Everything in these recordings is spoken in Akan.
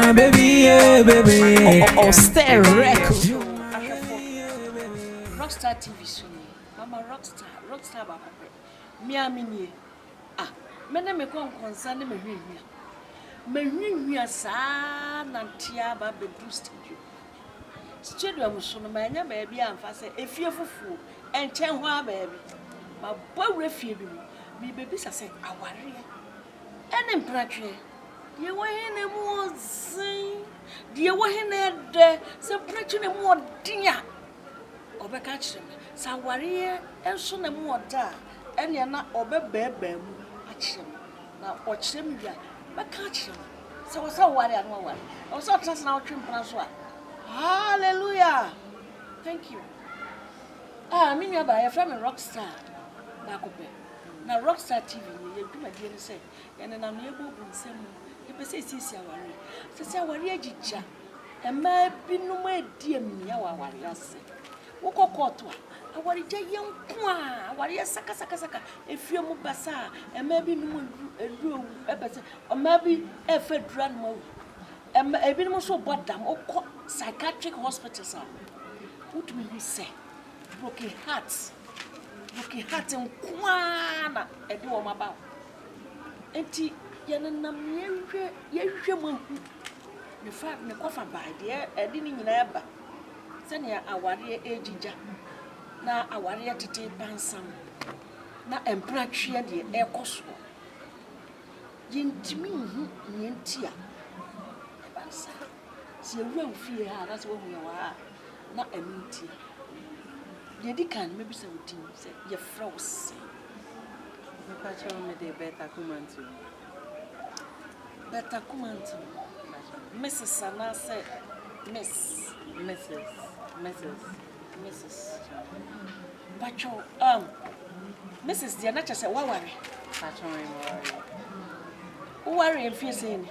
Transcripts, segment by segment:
My baby, yeah, baby. Oh, oh, oh stay record. Rockstar TV soon. I'm a rockstar. Rockstar about me. I'm in here. Ah, me na me kon konsa na me hwi hwi. Me hwi hwi saa na ntia ba be do studio. Studio am so no ma nya ba bi amfa se efie fufuo. Enchen ho a ba bi. Ma bawre fie bi mu. Me be bisa se aware. Ɛne mperatweɛ. Deɛ ɛwɔ he na emu wɔ dzen, deɛ ɛwɔ he na ɛdɛ. Sɛ mperatweɛ na emu wɔ den a, ɔbɛka akyerɛ me. Sɛ awareɛ nso na emu wɔ dɛ a, ɛnneɛ na ɔbɛbɛɛbɛɛ mu akyerɛ me. Na ɔkyerɛ me wie a, mɛka akyerɛ no. Sɛ ɛwɔ sɛ ɔware a, na waware. Ɛwɔ sɛ ɔtena ase na ɔtwe mpena nso a, hallelujah! Thank you. Ah, me nuabaa, yɛfrɛ me Rockstar baako pɛ. Na Rockstar TV no, yɛn dwumadie ne sɛ yɛnenam no yɛbɔ gu nsɛm mu, yɛpɛ sɛ yɛsiesie awareɛ. Ɛfiri sɛ awareɛ agyigya, mmaa binom redi amia wɔ awareɛ ase. Wokɔ kɔɔto a, awaregya yɛ nko a, awareɛ sakasakasaka, efie mu basaa, mmaa bi nom aduru, aduru awu, ɛpɛ sɛ mmaa bi refa aduru anom awu. Ɛma ebinom nso rebɔ dam, wokɔ psychiatric hospitals a, wotumi hu sɛ. Broken heart broken heart nkoaa na ɛde wɔn aba hɔ nti yɛnenam yɛhwɛ yɛhwɛ mu ahu ne fa ne kɔfa bae deɛ ɛde ne nyinaa ba sɛnea awareɛ ɛgyigya na awareɛ tete pansam na mpratweɛ deɛ ɛkɔ soɔ yɛntumi nhu neɛ nti a ɛba saa. Sɛ yɛwura wo fie ha anaasɛ woahu yɛn wɔ ha a, na ɛno ntia. Deɛ ɛdi kan no, mɛbisa wo din sɛ yɛfrɛ wo sɛn? Mepakyɛ wo mede Berta Kumantu. Berta Kumantu. Mrs. anaasɛ Miss? Mrs. Mrs. Mrs. Pakyɛ wo, um, Mrs. deɛ na kyɛ sɛ woaware. Pakyɛ wo meware. Wowaree mfeɛ sɛn ni?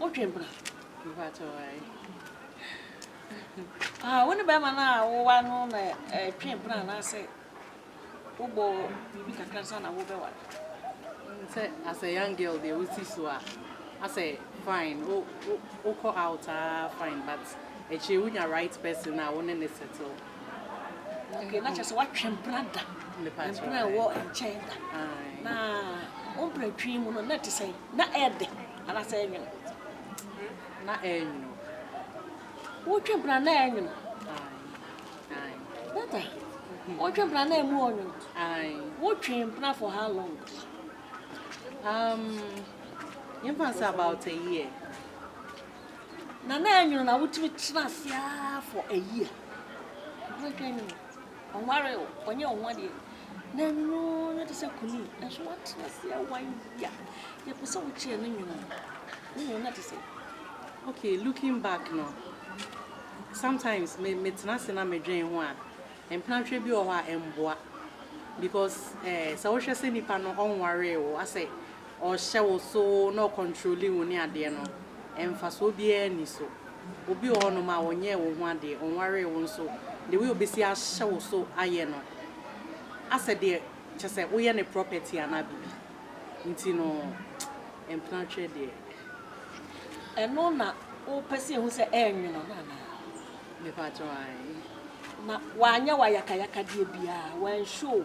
wodwen bra mpakyɛw ae ah wo ne bɛrima no a wowa no na ɛtwen bra anaasɛ wobɔ biribi kakra nsa na wobɛwa sɛ as a young girl deɛ wosi so a asɛ fine wokɔ out a fine but akyire wonya right person a wo ne ne settle okay na kyerɛ sɛ woatwe bra da mpena ɛwɔ nkyɛn da na wo mpena twi mu no na ɛte sɛn Na ɛyɛ den anaasɛ ɛyɛ nwono? Na ɛyɛ nwono. Wotwe mpena na ɛyɛ nwono? Ae. Data, wotwe mpena na ɛmu ɔnwono? Ae. Wotwe mpena for how long? Um, yɛmfa nsɛ about a year. Na na ɛyɛ nwono na wotumi tena ase for a year. Wotwe nwono. Ɔnwaree o, ɔnyɛɛ ho adeɛ. N'ano no te sɛ kunu nanso wate aseɛ a wayɛ. Yɛpɛ sɛ wokyerɛ ne nwene no. Ne nwene no ate sɛ. Okay, looking back no, sometimes me metena ase na medwen ho a, mpenatwe bi wɔ hɔ a ɛmboa because eh, sɛ wohwɛ sɛ nipa no ɔnwaree wo asɛ ɔrehyɛ wo so na ɔkɔntrole wo ne adeɛ no, mfasoɔ biara nni so. Obi wɔ hɔnom a, ɔnyɛɛ wo ho adeɛ, ɔnwaree wo nso, the way ɔbɛsi ahyɛ wo so ayɛ no, asɛ deɛ kyerɛ sɛ woyɛ ne property anaa biribi. Nti no, mpena atwerɛ deɛ. Ɛno na wopɛ sɛ ɛhu sɛ ɛrenwono no anaa? Mepakyɛw, aane. Na wanyɛ wo ayakayakadeɛ biara, wanshow wo?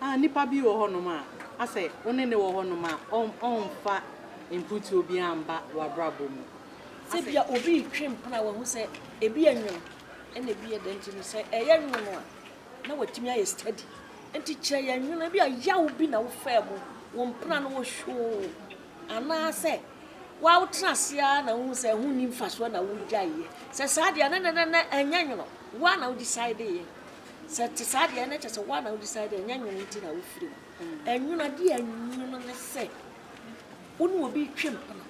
Ah, nipa bi wɔ hɔnom a, asɛ wo ne no wɔ hɔnom a, ɔn, ɔnfa mfutuo biara mba w'abrabɔ mu. Sɛ bia obi retwe mpena a, wahu sɛ ebi yɛ nwono, ɛna ebi yɛ dɛ nti no, sɛ ɛyɛ nwono a, na watumi ayɛ study. Nti kyerɛ yɛn nwono, ebia yaw bi na wofaa mu, wo mpena no wohwoo, anaasɛ woa wotena ase ara na wohu sɛ ɛho nni mfasoɔ na wogyaeɛ. Sɛ saa deɛ a, na ɛnɛ na ɛnyɛ nwono, wo ara na wo decideeɛ. Sɛ ɛte saa deɛ ɛna kyɛ sɛ woa na wo decide ɛnyɛ nwono nti na wofiri mu. Ɛnwono adeɛ a ɛnwono ne sɛ wo ne obi retwe mpena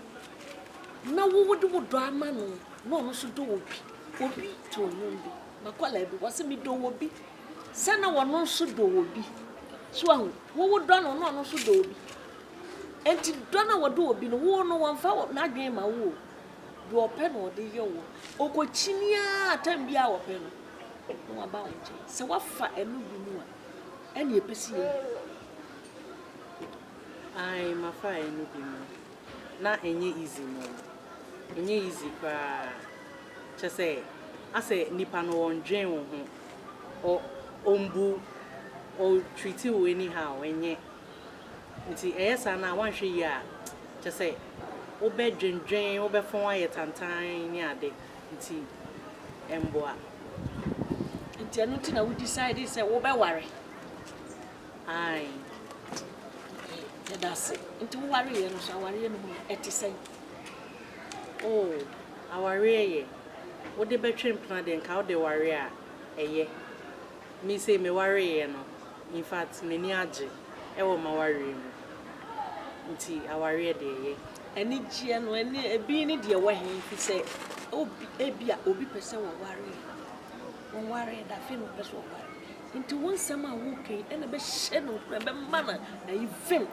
na wo wode wo dɔ ama no na ɔno nso dɔ obi obi too nnwom bi makɔlaa bi wɔsɛ me dɔ obi sɛ na ɔno nso dɔ obi so ahu wo wo dɔ no na ɔno nso dɔ obi enti dɔ na wɔdɔ obi no wo no wɔmfa n'adwene ma wo o deɛ ɔpɛ na ɔde yɛ wo. Ɔkɔkyini ara, time biara a ɔpɛ no, na waba wo nkyɛn. Sɛ woafa ɛno bi mu a, ɛnna ɛpɛ sɛ yɛyi. Ae, mafa ɛno bi mu. Na ɛnyɛ easy no. Ɛnyɛ easy koraa. Kyerɛ sɛ, asɛ nipa no ɔndwen wo ho. Ɔ, ɔmbu, ɔtreat wo anyhow, ɛnyɛ. Ntsi ɛyɛ saa no a, wɔannhwɛ yie a, kyerɛ sɛ wobɛdwendwen, wobɛfɔn ayɛ tantann ne ade, ntsi ɛmmboa. Ntsi ɛno ntsi na wo decidee sɛ wobɛware? Aane. Okay, yɛda ase. Ntsi wo wareeɛ no so, awareɛ no mu no, ɛte sɛn? Oh, awareɛ yɛ, wode bɛtwe mpena deɛ nka wode ware a, ɛyɛ. Me sei mewareeɛ no in fact m'ani agye wɔ m'awareɛ mu nti awareɛ deɛ ɛyɛ. Anigyeɛ no ɛne ɛbi ne deɛ ɛwɔ he fi sɛ obi ebia obi pɛ sɛ ɔware ɔware da afei na ɔpɛ sɛ ɔware nti wo nsɛm a woka yi ɛna ɛbɛhyɛ no nkuran ɛbɛma no ayivem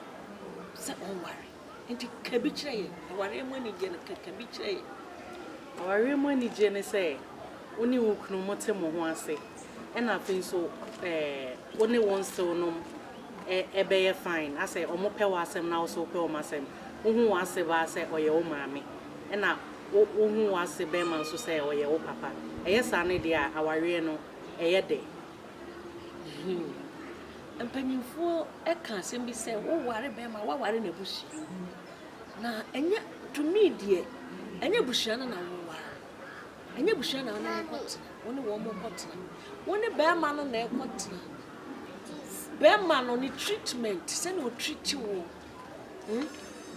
sɛ ɔnware. Nti ka bi kyerɛ yɛn. Awareɛ mu anigyeɛ no, ka ka bi kyerɛ yɛn. Awareɛ mu anigyeɛ ne sɛ wo ne wo kunu mo te mo ho ase ɛna afei nso eh, wo ne wo nsew nom eh, ɛbɛyɛ fine asɛ ɔmo pɛ wo asɛm na wo so wopɛ ɔmo asɛm wo hu wo ase baa sɛ ɔyɛ wo maame ɛna wo wo hu wo ase bɛɛma nso sɛ ɔyɛ wo papa ɛyɛ saa ne deɛ a awareɛ no ɛyɛ dɛ. Mpanyimfoɔ ka asɛm bi sɛ woware bɛrima a woaware n'abusua mu. Na ɛnyɛ tumi deɛ ɛnyɛ abusua no na woware. Ɛnyɛ abusua na wone wɔn kɔtena, wone wɔn kɔtena. Wone bɛrima no na ɛkɔtena. Bɛrima no ne treatment sɛnea ɔtreat wo.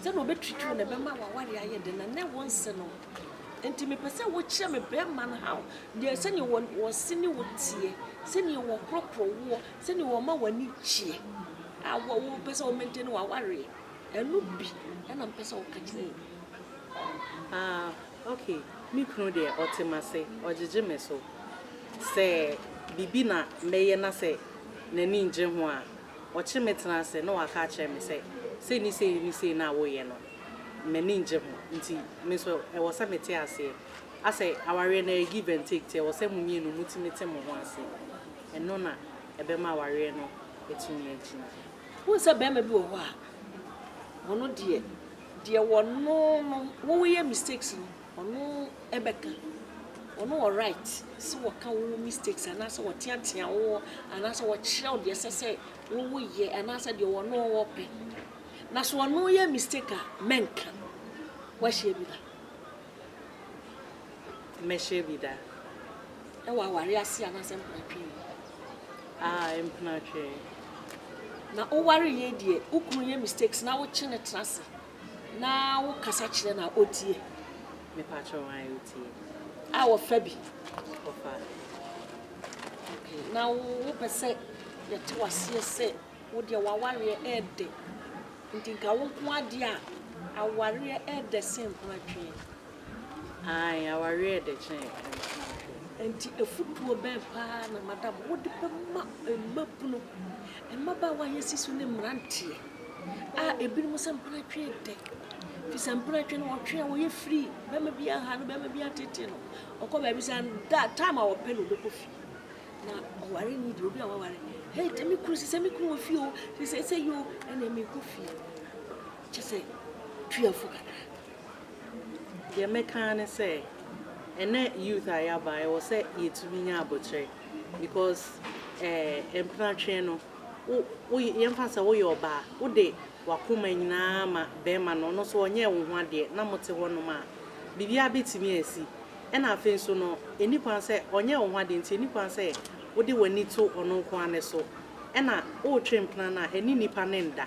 Sɛdeɛ ɔbɛtwitwi wo na ɛbɛma w'awareɛ ayɛ den na na ɛwɔ nse no. Nti mepɛ sɛ wokyerɛ me bɛrima no how deɛ sɛdeɛ wɔ wɔse ne wo teɛ sɛdeɛ wɔkorɔkorɔ woɔ sɛdeɛ wɔma w'ani gyeɛ a wɔ wopɛ sɛ wɔmɛntɛne w'awareɛ ɛno bi ɛna mepɛ sɛ woka kyerɛ me. Ah, okay. Me kunu deɛ ɔte m'ase, ɔgyegye me so. Sɛ biribi na mɛyɛ na sɛ n'ani ngye ho a, Ɔkyere me tena ase na waka akyerɛ me sɛ, Sei ne sei ne sei no a woyɛ no, m'ani nnye ho. Nti me nso ɛwɔ sɛ mete aseɛ. Asɛ awareɛ no ɛyɛ give and take nti ɛwɔ sɛ mo mmienu motumi te mo ho ase. Ɛno na ɛbɛma awareɛ no atumi agyina. Wohu sɛ barima bi wɔ hɔ a, ɔno deɛ, deɛ wɔno no, woyɛ mistakes no, Ɔno bɛka, ɔno wɔ right sɛ ɔka wo mistakes anaasɛ ɔteatea wo anaasɛ ɔkyerɛ wo deɛ ɛsɛ sɛ wowo yɛ anaasɛ deɛ ɔno ɔpɛ. Na so ɔno yɛ mistake a, mɛnka. Wahyia bi da? Mɛhyia bi da. Ɛwɔ aware ase anaasɛ mpenatwe yi? Ah, mpenatwe. Na woware yɛ deɛ, wo kunu yɛ mistakes na wokye ne tena ase. Na wo kasa kyerɛ no a otie. Me patrɔ wan a otie. A wɔfa bi. Wɔfa. Okay na wo pɛ sɛ yɛte waseɛ sɛ wo deɛ wawareɛ ɛɛdɛ nti nka wo nko adeɛ a awareɛ ɛɛdɛ sen ho atweɛ. Aane, awareɛ yɛ dɛ kyɛn nkwa ahwɛ. Enti afotuo bɛn paa na Madam Wode bɛma mmabunu, mmabaawa a yɛasi so ne mmeranteɛ a ebinom sɛ mpenatwe yɛ dɛ? Firi sɛ mpenatwe no, ɔtwe a ɔyɛ firi, barima bi aha no, barima bi atete no, ɔkɔ baabi sɛ da time a ɔpɛ na ɔbɛkɔ fie. Na ɔware nni deɛ obi a waware, hei tɛ me kunu, sɛ me kunu wɔ fie o, sɛ sɛ sɛ yi o, ɛnna merekɔ fie. Kyɛ sɛ tuafo kakra. Deɛ mɛka ara ne sɛ, ɛnnɛ youth a yɛaba, ɛwɔ sɛ yɛtumi nya aboterɛ because eh, mpenatweɛ no, wo, wo, yɛmfa no sɛ woyɛ ɔbaa, wode w'akoma nyinaa ma barima no, ɔno nso ɔnyɛɛ wo ho adeɛ na mote hɔnom a, biribiara bɛtumi asi. Ɛna afei nso no, ɛnni kwan sɛ, ɔnyɛɛ wo ho adeɛ nti, ɛnni kwan sɛ wode w'ani to ɔno nko ara no so. Ɛna woretwe mpena no a, ɛne nnipa no nda.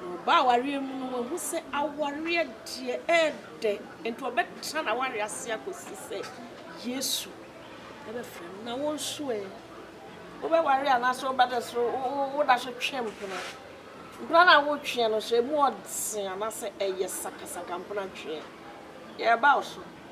Ɔbaa awareɛ mu no wahu sɛ awareɛ deɛ ɛyɛ dɛ, nti ɔbɛtra n'awareɛ ase akɔsi sɛ Yesu ɛbɛfrɛ no. Na wo nso ɛ, wobɛware anaasɛ wobɛda so woda so twe mpena? Mpena no a wotweɛ no so ɛmu ɔdene anaasɛ ɛyɛ sakasaka mpena tweɛ? Yɛreba wo so.